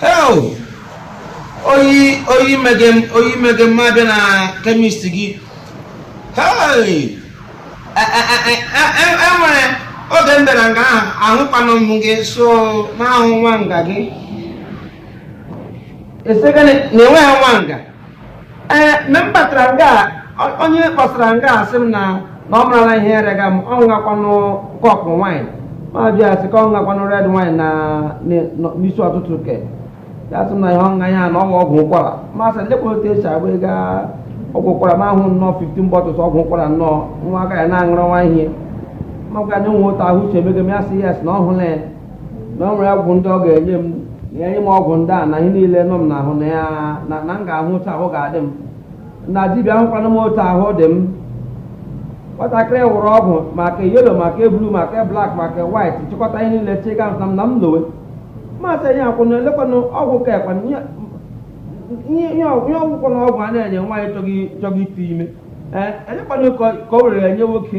hel oyi oyi mege m oyi mege m abịa na chemist gị hei enwere oge m bịara nga ahụ ahụkwanụ m gị sọ na-ahụ nwa nga gị esegana na enweghị nwa nga ee mgbe m batara nga a, o- onye kpọsara nga a sị m na na ọ marala ihe ya rega m ọ ṅụgakwanụ kọpụ wine ma jụ ya sị ka ọ ṅụgakwanụ red wine na na- na- n'isi ọtụtụ ke ya sị m na ihe ọ ṅa ihe a na ọ wụ ọgwụ ụkwara ma sị lekwa otu e si agba ego a- ọgwụ ụkwara ma ahụ nnọọ 15 bottles ọgwụ ụkwara nnọọ nwa aka ya na-aṅụrọ nwa ihe ma gwa na enwe otu ahụ uche emego m ya sị yes na ọ hụla ya na o nwere ọgwụ ndị ọ ga-enye m na enye m ọgwụ ndị a na ihe niile nọ m n'ahụ na ya na na m ga-ahụ otu ahụ ga-adị m na dibịa ahụkwanụ m otu ahụ dị m nwatakịrị wụrụ ọgwụ ma ke yellow ma ke blue ma ke black ma ke white chịkọta ihe niile chịga m na m lowe ma sị onye akwụna elekwanụ ọgwụ ka ekwana ihe- ihe ihe ọgwụ ihe ọgwụ kwanụ ọgwụ a na-enye nwaanyị chọga chọga ite ime ee elekwanụ ka ka o were enye nwoke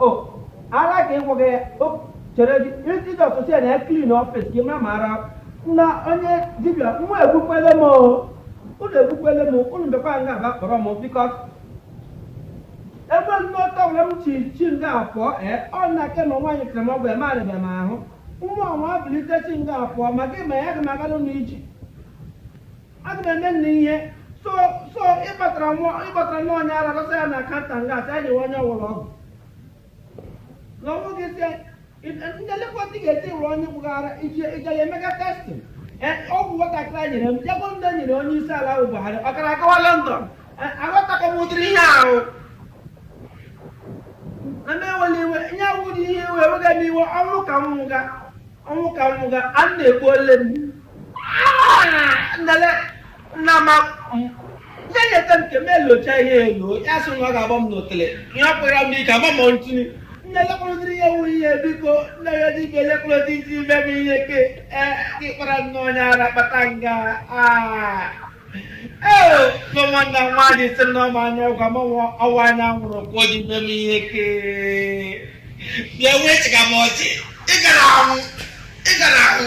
o ara ka ịgwọ gị ya o chere gị iji ọtụtụ ya na ya clean office gị ma mara na onye dibịa nwa egbukwele m o unu egbukwele m unu bịakwa nga aba kpọrọ m because ebe nnọta ọbụla m chi chi nga afọ ee ọ na aka ma nwaanyị kere m ọgwụ eme arịbịa m ahụ nwa ọnwa bilite chi nga afọ ma gị ma ya gị magara n'iji aga m eme nna ihe so so ịkpatara nwa ịkpatara nwa onye ara dọsa ya na counter nga a sị anyị onye ọ wụrụ ọgwụ na ọgwụ gị sị ndị lekọta ga-esi wụrụ onye gbugara iji ije ya emega testing ọgwụ nwatakịrị a nyere m jegbo ndị nyere onye isi ala bụ Buhari ọ gara agawa London aghọtakọ m ụdịrị ihe ahụ na m ewela iwe ihe awụ dị ihe iwe ewega m iwe ọnwụ ka m nwụga ọnwụ ka m nwụga unu egbuole m nele nna ma nye nyeta m nke m elocha ihe elo ya sị na ọ ga-agba m n'otele ihe ọ kpụrụ m ike agba m ntụtụ nne lekwa ụdịrị ihe wụ ihe biko onye dibịa lekwa ụdị i si eme m ihe ke ee ịkpara nnọọ onye ara kpata nga aa Ee, nwa nwanne m nwaanyị sị na ọ mmanya ọ gwa m nwa ọ wụ mmanya ṅụrụ ka o ji mee m ihe kee bịa wee chịga m ọchị ị gara ahụ ị gara ahụ